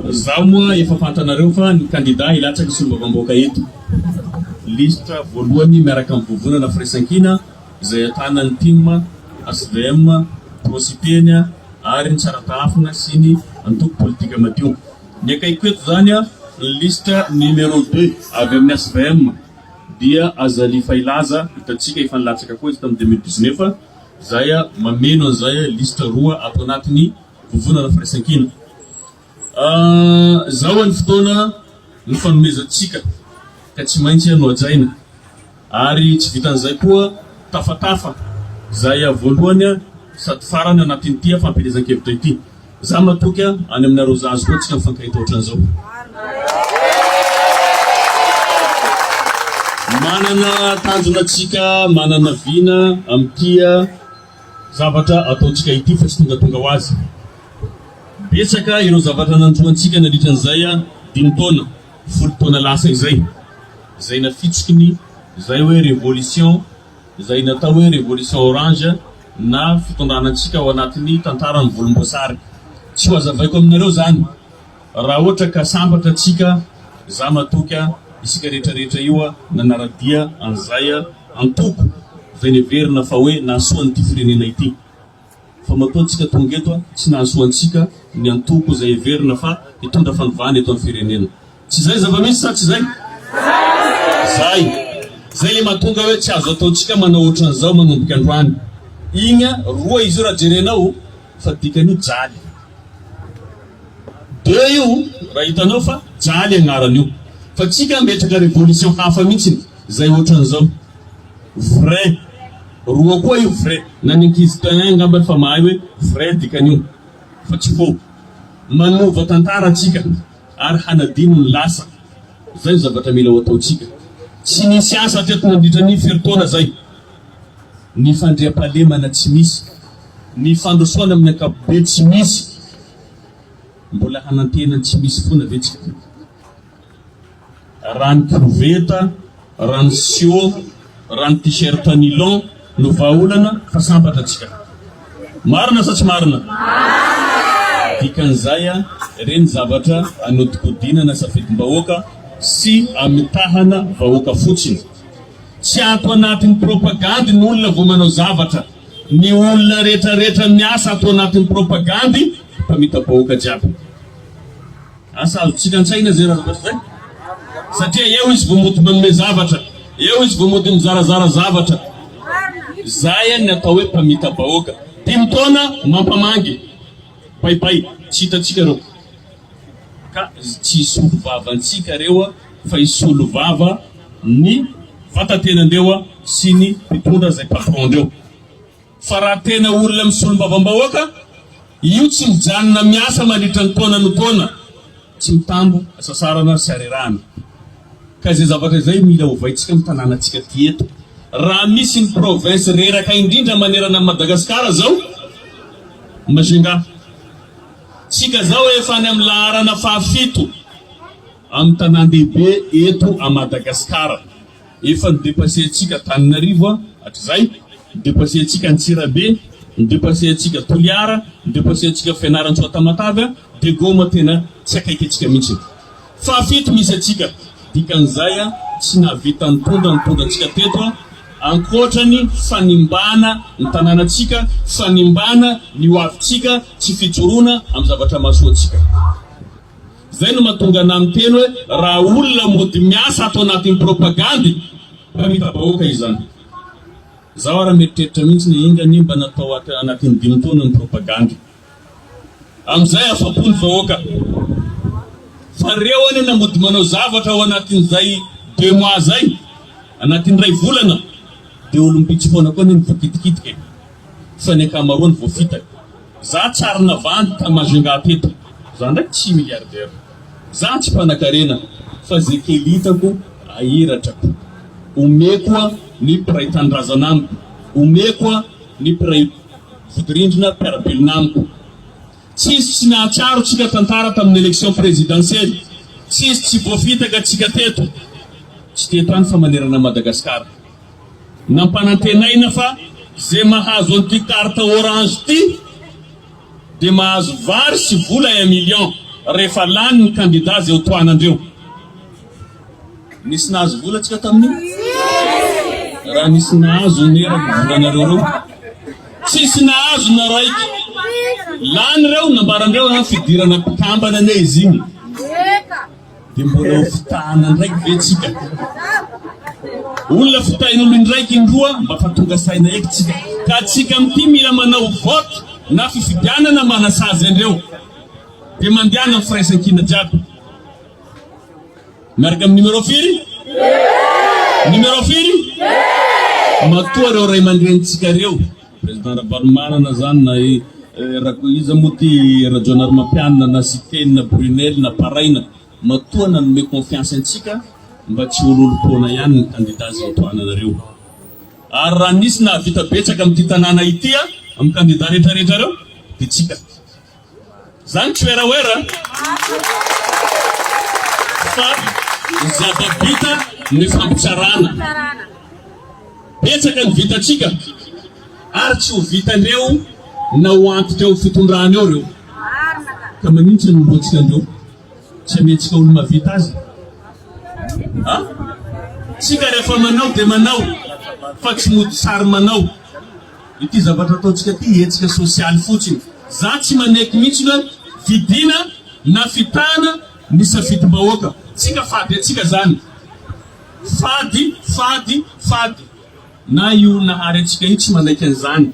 Izaho moa efa fantanareo fa ny kandida hilatsaka solombavambahoaka eto. Lisitra voalohany miaraka amin'ny vovonana firaisankina izay ahitana ny tim, HVM, Prosipeny ary ny Tsaratahafina sy ny antoko politika madio. Ny akaikiko eto izany ny lisitra numéro deux avy amin'ny HVM dia Azali Fahilaza hitantsika efa nilatsaka koa izy tamin'ny deux mille dix-neuf izay mameno an'izay lisitra roa ato anatiny Vovonana firaisankina. Izao any fotoana ny fanomezantsika ka tsy maintsy no hajaina ary tsy vitan'izay koa tafatafa izay voalohany sady farany anatin'ity fampielezan-kevitra ity. Izaho matoky any aminareo zazo koa tsika mifankahita ohatran'izao. Manana tanjona tsika, manana vina amin'ity. Zavatra ataontsika ity fa tsy tongatonga ho azy. Betsaka ireo zavatra nandroantsika nandritra an'izay dimy taona, folo taona lasa izay. Izay nafitsiky ny izay hoe revolution, izay natao hoe revolution orange na fitondrana antsika ao anatin'ny tantaran'ny volomboasary. Tsy ho azavaiko aminareo izany. Raha ohatra ka sambatra tsika za matoky a isika rehetra rehetra io a nanaradia an'izay a antoko veneverina fa hoe nahasoa an'ity firenena ity fa matoa tsika tonga eto a tsy nahasoa antsika ny antoko zay heverina fa hitondra fanovana eto am firenena tsy zay zavamisy sa tsy zay? Zay! Zay le mahatonga hoe tsy azo ataontsika manao otran'izao manomboka androany igny a roa izy io raha jerenao Fa dikany io jaly be io raha hitanao fa jaly agnarany io fa tsika hametraka révolution hafa mihitsiny zay ohatrany zao vrai roa koa io vrai na ny ankizy tain angamba efa mahay hoe vrai dikany io fa tsy faux manova tantara tsika ary hanadino ny lasa zay ny zavatra mila ho ataotsika tsy nisy asa teto nandritra ny firy taona zay ny fandriampahalemana tsy misy, ny fandrosoana amin'ny ankapobeny tsy misy, mbola hanantena ny tsy misy foana ve tsika? Rano koveta, rano siô, rano t-shirt nilon no vahaolana fa sambatra tsika. Marina sa tsy marina? Dikan'izay a, ireny zavatra anodikodinana safidim-bahoaka sy amitahana vahoaka fotsiny. Tsy ato anatin'ny propagandy ny olona vao manao zavatra. Ny olona retraretra miasa ato anatin'ny propagandy mpamita-bahoaka jiaby. Asa azontsika an-tsaina izay raha zavatra izay? Satria eo izy vao mody manome zavatra, eo izy vao mody mizarazara zavatra. Izay no atao hoe mpamita-bahoaka. Dimy taona mampamangy. Bay bay. Tsy hitantsika ireo. Ka tsy hisolo vava antsika ireo. fa hisolo vava ny vatatenan-dreo sy ny mpitondra izay patron-dreo. Fa raha tena olona misolombavambahoaka, io tsy mijanona miasa mandritra ny taona no taona, tsy mitambo hasasarana sy harerahana. Ka izay zavatra izay mila ovaintsika amin'ny tanànantsika ty eto. Raha misy ny province reraka indrindra manerana an'i Madagascar izao, Majunga. Tsika izao efa any amin'ny laharana fahafito. Any tanàn-dehibe eto à Madagascar. Efa no depasser antsika Antananarivo a, hatrizay, no depasser antsika Antsirabe, no depasser antsika Toliara, no depasser antsika Fianarantsoa Tamatave a, dia goma tena tsy akaiky antsika mihitsy e. Fahafito misy antsika, dikan'izay a tsy nahavita nitondra ny tondrantsika teto a, ankoatra ny fanimbana ny tanànantsika, fanimbana ny hoavintsika, tsy fijoroana amin'ny zavatra mahasoa antsika. Izay no mahatonga anà miteny hoe raha olona mody miasa ato anatin'ny propagandy mpamita bahoaka izany. Izaho ary mieritreritra mihitsy ny enga anie mba natao ato anatin'ny dimy taona ny propagandy. Amin'izay afa-po ny vahoaka. Fa reo anie na mody manao zavatra ao anatin'izay deux mois zay, anatin'ny iray volana, dia olom-bitsy foana koa anie ny voakitikitika e. Fa ny ankamaroany voafitaka. Za tsy arina vandy ta Majunga teto, za ndray tsy milliardaire, za tsy mpanakarena fa ze kely hitako ahiratrako, omeko a ny mpiray tanindrazana amiko, omeko a ny mpiray vodirindrina mpiarabelona amiko. Tsisy tsy nahatsiaro tsika tantara tamin'ny election presidentielle, tsisy tsy voafitaka tsika teto, tsy teto any fa manerana Madagascar. Nampanantenaina fa izay mahazo an'ity carte orange ity dia mahazo vary sy vola un million rehefa lany ny kandida izay hotohanandreo. Nisy nahazo vola tsika tamin'io? Raha nisy nahazo anie raha ny volanareo reo? Tsisy nahazo na raiky. Lany reo nambarandreo an fidirana mpikambana anie izy iny. Dia mbola ho fitahana ndraiky ve tsika? Olona fitahin'olo indraiky indroa mba fa tonga saina eky tsika. Ka tsika mty mila manao vote na fifidianana manasazy andreo. Dia mandehana am firaisankina jiaby. Miaraka am numéro firy? Numéro firy? Matoa reo ray aman-drenintsika reo. Président Ravalomanana zany na i Rako iza moa ty Rajaonarimampianina na Siteny na Brunelle na Paraina matoa nanome confiance antsika mba tsy hololompoana ihany ny candidat zay tohananareo ary raha nisy nahavita betsaka amin'ity tanàna ity a amin'ny candidat retraretra reo de tsika Zany tsy werawera fa zava-bita ny fampitsarana. Betsaka ny vitantsika ary tsy ho vitan'ireo na ho antitra eo fitondrana eo ireo. Ka manintsy ny lohantsika an'ireo? Tsy amentsika olo-mavita azy? Ha? Tsika rehefa manao dia manao fa tsy mody sary manao. Ity zavatra ataontsika ity hetsika sosialy fotsiny. Za tsy manaiky mihitsy hoe fidiana na fitahana ny safidim-bahoaka. Tsika fady antsika zany. Fady, fady, fady. Na io Nahary antsika io tsy manaiky an'izany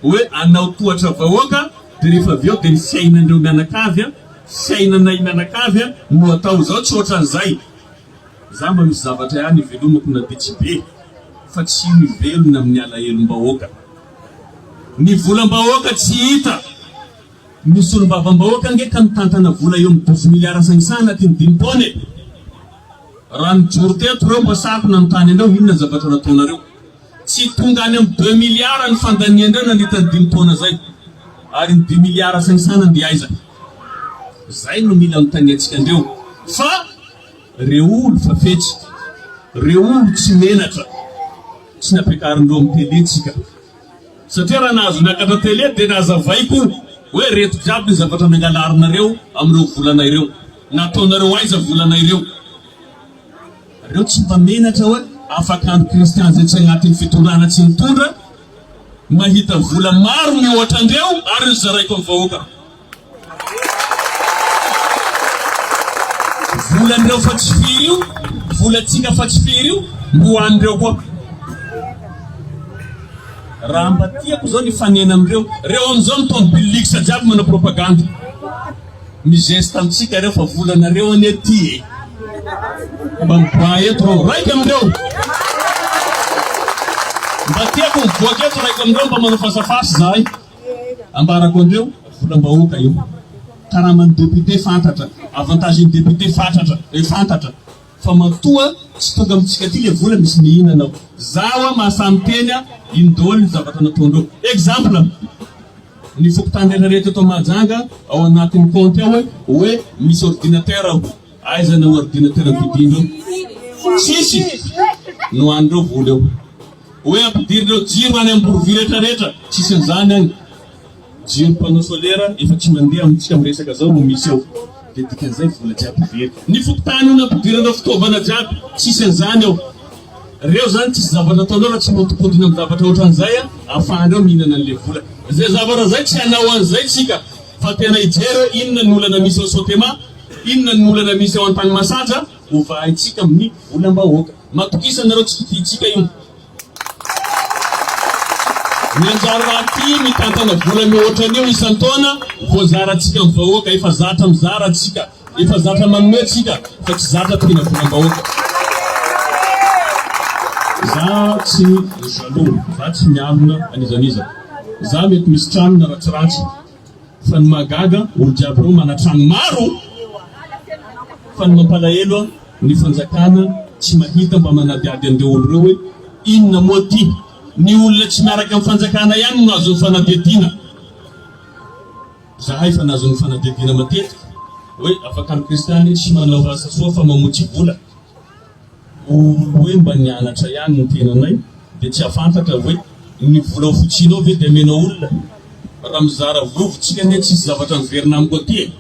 hoe anao tohatra vahoaka de rehefa avy eo de ny fiainan'ireo mianakavy, fiainanay mianakavy no atao. Zao tsy ohatran'izay. Za mba misy zavatra ihany ivelomako na dia tsy be fa tsy mivelona amin'ny alahelom-bahoaka. Ny volam-bahoaka tsy hita. Ny solombavambahoaka ange ka mitantana vola eo amin'ny dosy miliara sainsa anatin ny dimy taona e! Raha nijoro teto reo mba sahako nanontany anareo inona zavatra nataonareo. Tsy tonga any amin'ny deux milliards ny fandanian-drà nandritra ny dimy taona izay. Ary ny dimy milliards sainsaina dia aiza? Izay no mila anotaniantsika andreo fa reo olo fa fetsy, reo olo tsy menatra, tsy nampiakarindreo amin'ny tele tsika. Satria raha nahazo niakatra tele dia nazavaiko hoe reto jiaby ny zavatra nangalarinareo amin'ireo volana ireo. Nataonareo aiza volana ireo? Reo tsy mba menatra hoe afaka andry Christian zay tsy agnatin'ny fitondrana tsy nitondra mahita vola maro mihoatra andreo ary nozaraiko am vahoaka vola ndreo fa tsy firy io vola tsika fa tsy firy io mbo anreo koa raha mba tiako zao ny fanena amreo reo amzao mitondra bilix jiaby manao propagande Mizesta amintsika reo fa volanareo anie ty e. Mba miboaha eto reo raika amindreo. Mba tiako mivoaka eto raika amindreo mba manao fasafasy zahay. Ambarako andreo volam-bahoaka io. Karaman'ny député fantatra, avantage-n'ny député fatratra, eh, fantatra. Fa matoa tsy tonga amitsika aty le vola misy mihinana ao. Za oa mahasahy miteny a ino daoly ny zavatra nataondreo. Exemple ny fokontany rehetra rehetra eto Mahajanga ao anatiny compte ao oe misy ordinateur ao. Aiza ny ordinateur nodidiandreo? Tsisy! Nohanindreo vola eo. Oe ampidirin-dreo jiro any Amborovy rehetra rehetra, tsisy anzany agny. Jiro panneau solaire efa tsy mandeha amintsika am resaka zao no misy ao de dikan'izay vola jiaby very. Ny fokontany no nampidirana fitaovana jiaby tsisy an'izany ao reo zany tsisy zavatra ataonao raha tsy mihodinkodina am zavatra otran'izay a afahanreo mihinana an'le vola zay zavatra zay tsy hanao an'izay tsika fa tena hijery oe inona ny olana misy ao sotema inona ny olana misy ao antanimasaja hovahaintsika amin'ny volambahoaka matokisa nareo tsy kitintsika io. Mianjary rahateo mitantana vola mihoatra an'io isan-taona voazarantsika amin'ny vahoaka. Efa zatra mizara tsika, efa zatra manome tsika fa tsy zatra mpihina volam-bahoaka. Za tsy jaloux, za tsy mialona an'izan'iza. Za mety misy tranona ratsiratsy. Fa ny mahagaga olo jiaby reo manatrano maro fa ny mampalahelo ny fanjakana tsy mahita mba manadiady anreo olo reo hoe inona moa ty ny olona tsy miaraka am fanjakana ihany no azony fanadiadina zahay fa nazony fanadiadina matetika hoe afaka ny kristiany tsy manao asa soa fa mamotsy vola Hoe mba nianatra ihany ny tenanay dia tsy hafantatra hoe ny vola ofotsianao ve dia amenao olona? Raha mizara vola ofotsika anie tsisy zavatra miverina amiko aty e!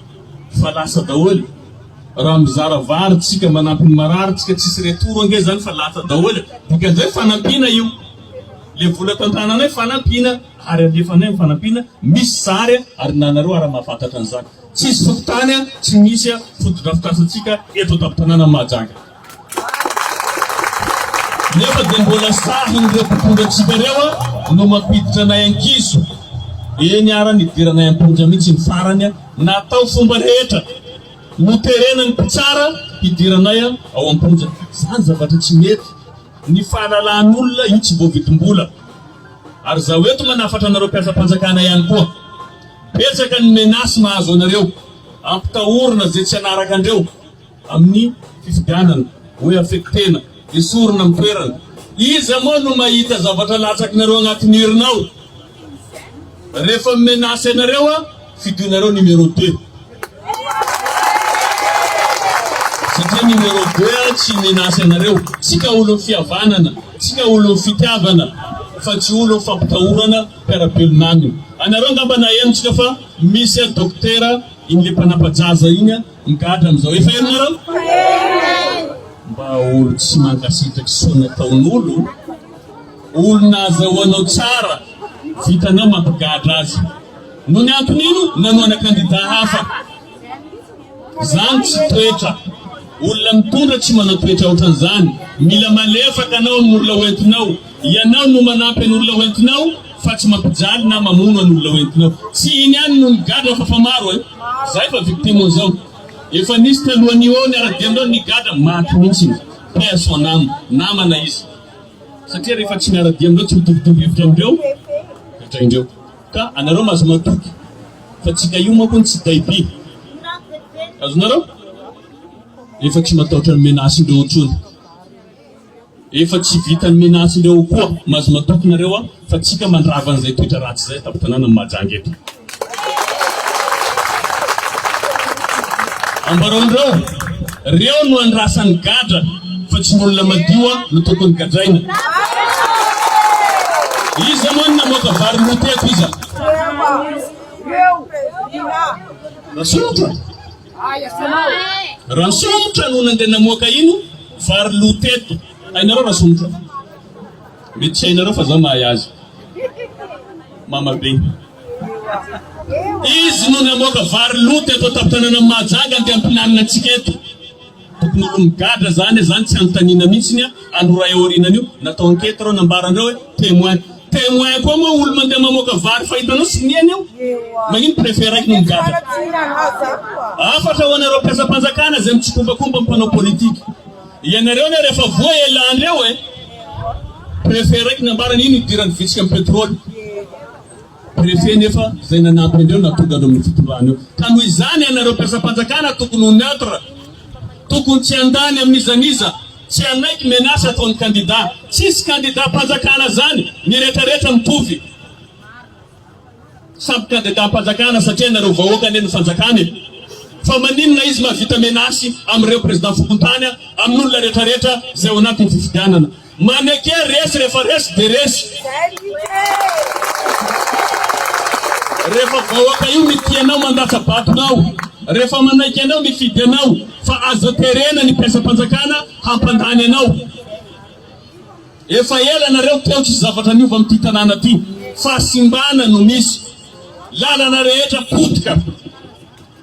Fa lasa daholo! Raha mizara vary tsika manampy ny marary tsika tsisy retour ange zany fa lata daholo e! Dikan'izay fanampiana io! Le vola tantananay fanampiana ary alefanay am fanampiana misy sary a! Ary na nareo ara mahafantatra an'izany. Tsisy fokontany tsy misy fotodrafitrasantsika eto an-tampon-tanànan'i Mahajanga. Nefa dia mbola sahin'ireo mpitondra antsika ireo no mampiditra anay an-kizo. Eny ara nidiranay am-ponja mihitsy ny farany, natao fomba rehetra. Noterenan'ny mpitsara hidiranay ao am-ponja. Izany zavatra tsy mety. Ny fahalalahan'olona io tsy voavidim-bola. Ary izaho eto manafatra anareo mpiasam-panjakana ihany koa. Betsaka ny menace mahazo anareo, ampitahorina ze tsy hanaraka andreo amin'ny fifidianana, hoe affectena, esorina amin'ny toerana, iza moa no mahita zavatra latsakinareo agnatin'ny urne ao? refa mimenace anareo a fidoinareo numéro deux, satria numéro deux a tsy himenace anareo, tsika olon'ny fihavanana, tsika olon'ny fitiavana fa tsy olon'ny fampitahorana, mpiara-belona any. Anareo angamba naheno tsika fa misy a Dokotera iny le mpanampajaza iny a migadra amizao efa heno nareo? Mba olo tsy mankasitraky soa nataon'olo, olona azahoanao tsara vitanao mampigadra azy. Nony anton'ino nanoana kandida hafa. Zany tsy toetra. Olona mitondra tsy manao toetra ohatran'izany. Mila malefaka anao amin'ny olona hoentinao. Ianao no manampy an'olona hoentinao fa tsy mampijaly na mamono an'olona hoentinao. Tsy iny ihany no nigadra fa fa maro e. Zay fa victime zao. Efa nisy talohan'io ny ara-demdra nigadra, maty mihitsy ny. Paix à son âme. Namana izy. Satria rehefa tsy miara-dia amindreo, tsy mitovitovy hevitra amindreo, gadraindreo. Ka anareo maza matoky fa tsika io manko no tsy tay by. Azonareo? Efa tsy mataotra ny menace ndreo ntsony. Efa tsy vita ny menace ndreo koa. Maza matoky nareo a fa tsika mandrava anzay toetra ratsy zay tapatanana ny Mahajanga eto. Ambarao ndreo, reo no andrasany gadra. fa tsy ny olona madio an no tokony gadraina. Iza moa no namoaka vary roa teto iza? Rasomotra? Rasomotra no nandeha namoaka ino vary loa teto. Hainareo Rasomotra? Mety tsy hainareo fa zaho mahay azy. Mamabe. Izy no namoaka vary loa teto an-tampon-tanànan'i Mahajanga andeha hampihinanana antsika eto. Tokony ho migadra zany e, zany tsy anontaniana mihitsiny a, alo ray aorianan'io natao enquete reo nambaranreo hoe temoin, temoin koa moa olo mandeha mamoaka vary fa hitanao siniany eo, magnino prefet raiky no migadra? Hafatra ho anareo mpiasam-panjakana zay mitsikompakompa am mpanao politique, ianareo ne refa voa e lanreo e, prefet raiky nambarany ino hidirany vitsika am petrole, Préfet nefa zay nanampy andreo na tonga eo amin'ny fitondrana eo ka noho izany ianareo mpiasam-panjakana tokony ho neutre tokony tsy handà ny amin'iza n'iza tsy hanaiky menace ataon'ny kandida tsisy kandidam-panjakana zany ny rehetra rehetra mitovy samy kandidam-panjakana satria ianareo vahoaka anie no fanjakana e fa maninona izy mahavita menace amin'ireo président fokontany amin'olona rehetra rehetra zay ao anatin'ny fifidianana Maneke resy rehefa resy de resy. Rehefa vahoaka io mitia anao mandatsa batonao rehefa manaiky anao mifidy anao fa aza terena ny mpiasam-panjakana hampandany anao. Efa ela nareo teo tsisy zavatra niova amin'ity tanàna ty. Fahasimbana no misy. Lalana rehetra potika.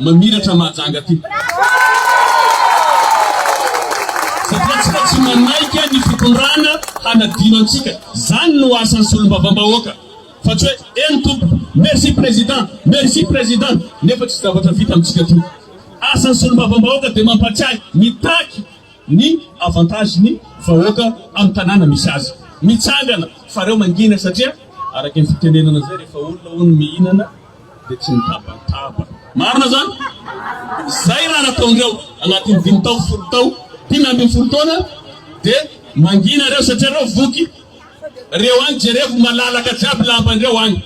Mamiratra Mahajanga ty. Satria tsika tsy manaika ny fitondrana hanadino antsika. Zany no asan'ny solombavambahoaka. Fa tsy hoe eny tompoko, merci président, merci président, nefa tsy zavatra vita amintsika ty. Asan'ny solombavambahoaka dia mampatsiahy mitaky ny avantage ny vahoaka amin'ny tanàna misy azy. Mitsangana fa reo mangina satria araka ny fitenenana zay rehefa olona hono mihinana. dia tsy mitabataba. Marina izany? Izay raha nataondreo anatin'ny dimy tao, folo tao, dimy ambin'ny folo taona dia mangina reo satria reo voky. Reo any jerevo malalaka jiaby lambandreo any.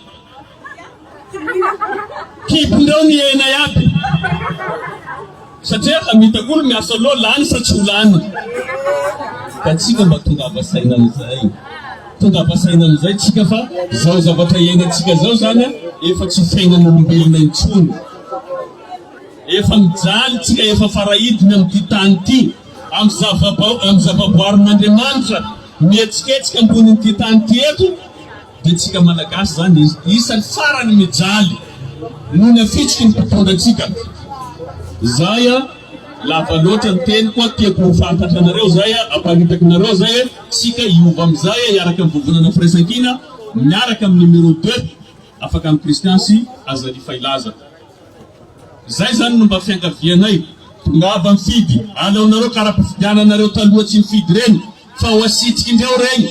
Kibondreo mihena iaby. Satria efa mitakolo miasa loha lany sa tsy ho lany. Ka tsika mba tongava saina amin'izay. Tongava saina amin'izay tsika fa zao zavatra iainantsika zao zany efa tsy fiainan'olombelona intsony. Efa mijaly tsika efa farahidiny amin'ity tany ity. Amin'ny zava-boarin'Andriamanitra mihetsiketsika ambonin'ity tany ity eto. Dia tsika malagasy zany dia isany farany mijaly noho ny hafitsiky ny mpitondra antsika. Zay a, lava loatra ny teniko a, tiako ho fantatra anareo zay a, hamparitaka anareo zay hoe tsika hiova amizay a, hiaraka amin'ny vovonana firaisankina, miaraka amin'ny numéro deux, Afakano Christian sy Azali Fahilaza. Zay zany no mba fiangavianay. Tongava mifidy, aleonareo kara-pifidiananareo taloha tsy nifidy reny. Fa ho asitrika indray ao regny.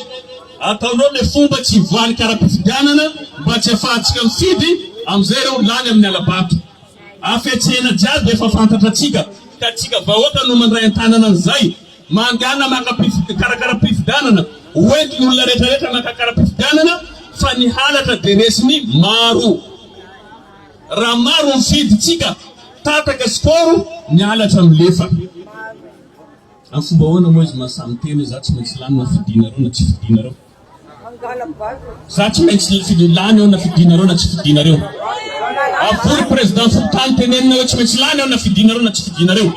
Ataonao le fomba tsy voalika ara-pifidianana mba tsy afahantsika mifidy amizay reo lany aminy alabato. Afetsena jiaby efa fantatra atsika ka tsika vahoaka no mandray antanana anizay. Mangana maka mpikarakara pifidanana ho entiny olona retra retra makakara pifidianana fa ny halatra de resiny maro. Ra maro mifidy tsika tataka sy koro ny halatra milefa. Amin'ny fomba ahoana moa izy maha samy tena, izaho tsy maintsy lany na fidinareo na tsy fidinareo? Izaho tsy maintsy fid- lany aho na fidinareo na tsy fidinareo? Avory Président fokontany tenenina hoe tsy maintsy lany aho na fidinareo na tsy fidinareo?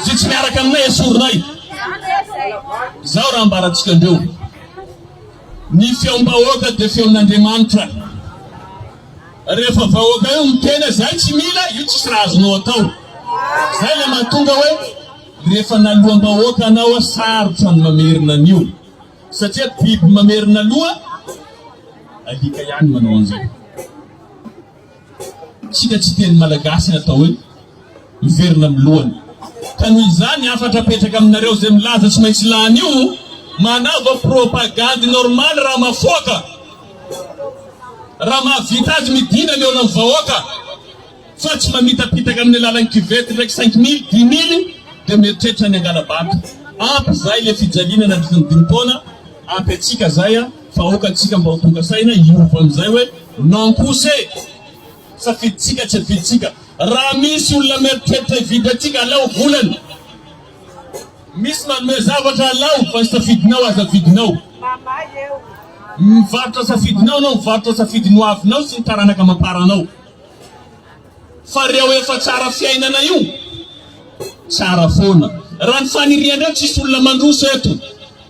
Izay tsy miaraka aminay esorinay! Izao raha ambarantsika andreo, Ny feom-bahoaka dia feon'Andriamanitra. Rehefa vahoaka io miteny hoe izay tsy mila, io tsisy raha azonao atao. Izay ilay mahatonga hoe. Rehefa naloam-bahoaka anao aho sarotra ny mamerina ny ora satria biby mamerina loha alika ihany manao an'izay. Isika tsy teny malagasy ny atao hoe miverina amin'ny lohany. Ka noho izany hafatra apetraka aminareo izay milaza tsy maintsy lany io, manaova propagandy normal raha mafoaka, raha mahavita azy midina mihaona ny vahoaka. fa tsy mamitapitaka amin'ny alalan'ny kivety ndraiky cinq mille, dimy mille dia mieritreritra ny hangala-bato. Ampy izay le fijaliana nandritra ny dimy taona, ampy antsika zay a, fa aoka antsika mba ho tonga saina hiova amin'izay hoe non kosa e! Safidintsika tsy afidintsika. Raha misy olona mieritreritra hividy antsika alao volany. Misy manome zavatra alao fa ny safidinao aza avidinao. Mivarotra safidinao anao, mivarotra safidin'ny hoavinao sy ny taranaka amam-paranao. Fa reo efa tsara fiainana io tsara foana. Raha ny faniriandreo tsisy olona mandroso eto,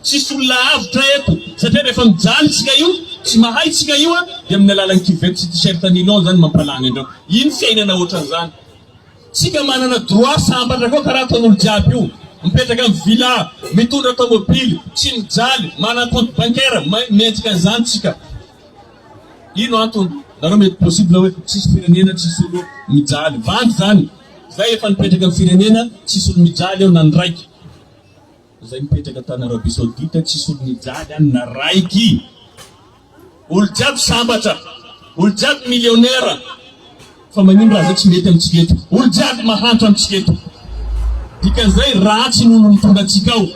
tsisy olona avotra eto satria rehefa mijaly tsika io, tsy mahay tsika io a, dia amin'ny alalan'ny cuvette sy t-shirt nylon izany mampalany andreo. Iny fiainana ohatran'izany. Tsika manana droit sambatra koa karaha ataon'olo jiaby io. Mipetraka amin'ny villa, mitondra tomobily, tsy mijaly, manana compte bancaire, mendrika an'izany tsika. Ino antony? Nareo mety possible hoe tsisy firenena tsisy olo mijaly. Vandy zany. Zay efa nipetraka am firenena tsisy olo mijaly eo na ny raiky. Zay mipetraka tany Arabie Saoudite tsisy olo mijaly any na raiky. Olo jiaby sambatra. Olo jiaby millionnaire. Fa magnino raha zay tsy mety amitsika eto? Olo jiaby mahantra amitsika eto. Dikan'izay ratsy ny olo mitondra antsika ao.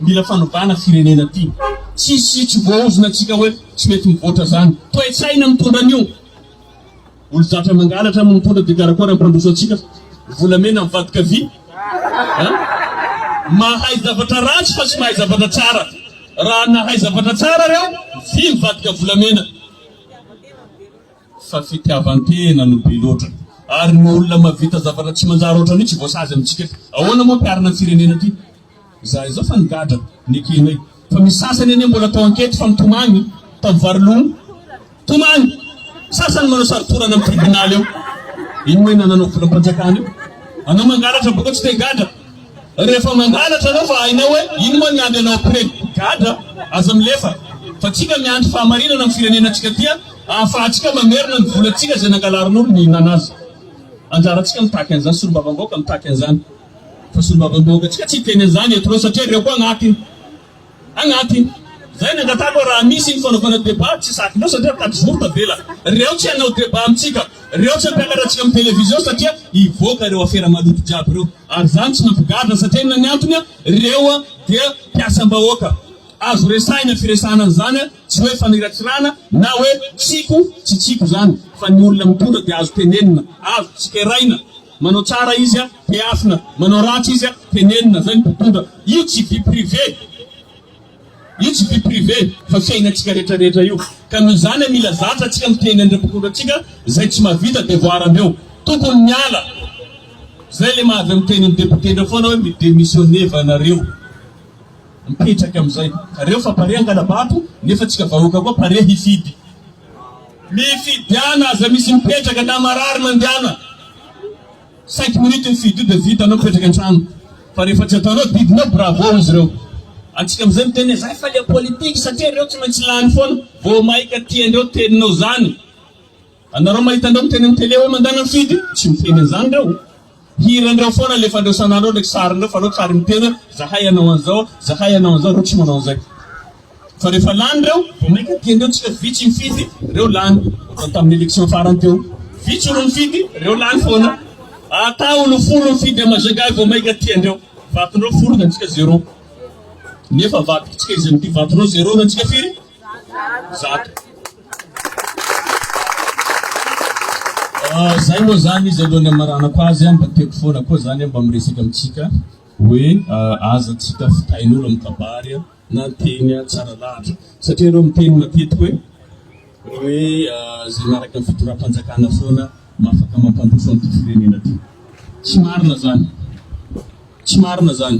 Mila fanovana firenena ty. Tsisy tsy voaozona antsika hoe tsy mety mivoatra zany. Toetsaina mitondra an'io. Olo zatra mangalatra no mitondra de karakôry ampandroso antsika fa volamena mivadika vy a! Mahay zavatra ratsy fa tsy mahay zavatra tsara. Raha nahay zavatra tsara reo, vy mivadika volamena. fa fitiavan-tena no be loatra ary ny olona mavita zavatra tsy manjary ohatran' io tsy voasazy amintsika eto. Ahoana moa mpiarina ny firenena ty za izao fa nigadra nekenay fa misy sasany anie mbola atao ankety fa mitomany tam varilon tomany sasany manao sarotorana am tribunal eo iny moa enananao volam-panjakana io anao mangalatra boka tsy te higadra Rehefa mangalatra anao fa hainao hoe iny moa ny andry anao après gadra aza milefa fa tsika miandry fahamarinana am firenena tsika ty a ahafahatsika mamerina ny vola tsika zay nangalarinolo ny hihinana azy anjara tsika mitaky anzany solombavamb aoka mitaky anzany fa solombavamb aoka tsika tsy hiteny anzany eto reo satria reo koa agnaty Agnaty zay ny angatahako hoe raha misy ny fanaovana débat tsy zaka loatra satria mitady vory tavela. Reo tsy hanao débat amintsika, reo tsy hampiakatra antsika amin'ny télévision satria hivoaka reo afera maloto jiaby reo. Ary zany tsy mampigadra satria inona ny antony, reo dia mpiasam-bahoaka. Azo resahina firesahana an'izany, tsy hoe fanirakirana na hoe tsiko tsy tsiko zany fa ny olona mitondra dia azo tenenina, azo tsikeraina. Manao tsara izy a, tehafina, manao ratsy izy a, tenenina, zay ny mpitondra. Io tsy vie privée, io tsy vie privée fa fiainantsika rehetra rehetra io. Ka noho izany a, mila zatra antsika miteny an'ireo mpitondra antsika, zay tsy mahavita devoir andreo. Tokony miala. Zay le maha avy amin'ny tenin'ny député ndreo foana hoe mi-démissionner va nareo. Mipetraka amizay. Reo fa pare hangala-bato, nefa antsika vahoaka koa pare hifidy. Mifidiana aza misy mipetraka na marary mandiana cinq minutes ny fidio dia vita anao mipetraka antrano fa rehefa tsy ataonao didinao bravo izy ireo antsika amizay miteny zay faly politique satria ireo tsy maintsy lany foana vao maika tiandreo teninao zany anareo mahita andreo miteny am tele hoe mandana mifidy tsy miteny anzany reo Hiran'ireo foana alefandreo san'andro ao ndreky sarin'ireo fanao tsary miteny hoe zahay anao an'izao, zahay anao an'izao, reo tsy manao an'izay. Fa rehefa lany reo, vao mainka tian'ireo tsika vitsy mifidy, reo lany. Ohatran'ny tamin'ny election farany teo, vitsy olo nifidy, reo lany foana. Ata olo folo mifidy à Majunga vao mainka tiandreo. Vaton'ireo folo ny antsika zero. Nefa vadiko tsika izay mitia vaton'ireo zero ny antsika firy? Zato. Zay moa zany izy alohan'ny hamaranako azy mba tiako foana koa zany mba miresaka amintsika hoe aza antsika fitahin'olo amin'ny kabary na teny tsara lahatra satria ireo miteny matetika hoe hoe zay miaraka ny fitondram-panjakana foana no afaka mampandroso an'ity firenena ity. Tsy marina zany. Tsy marina zany.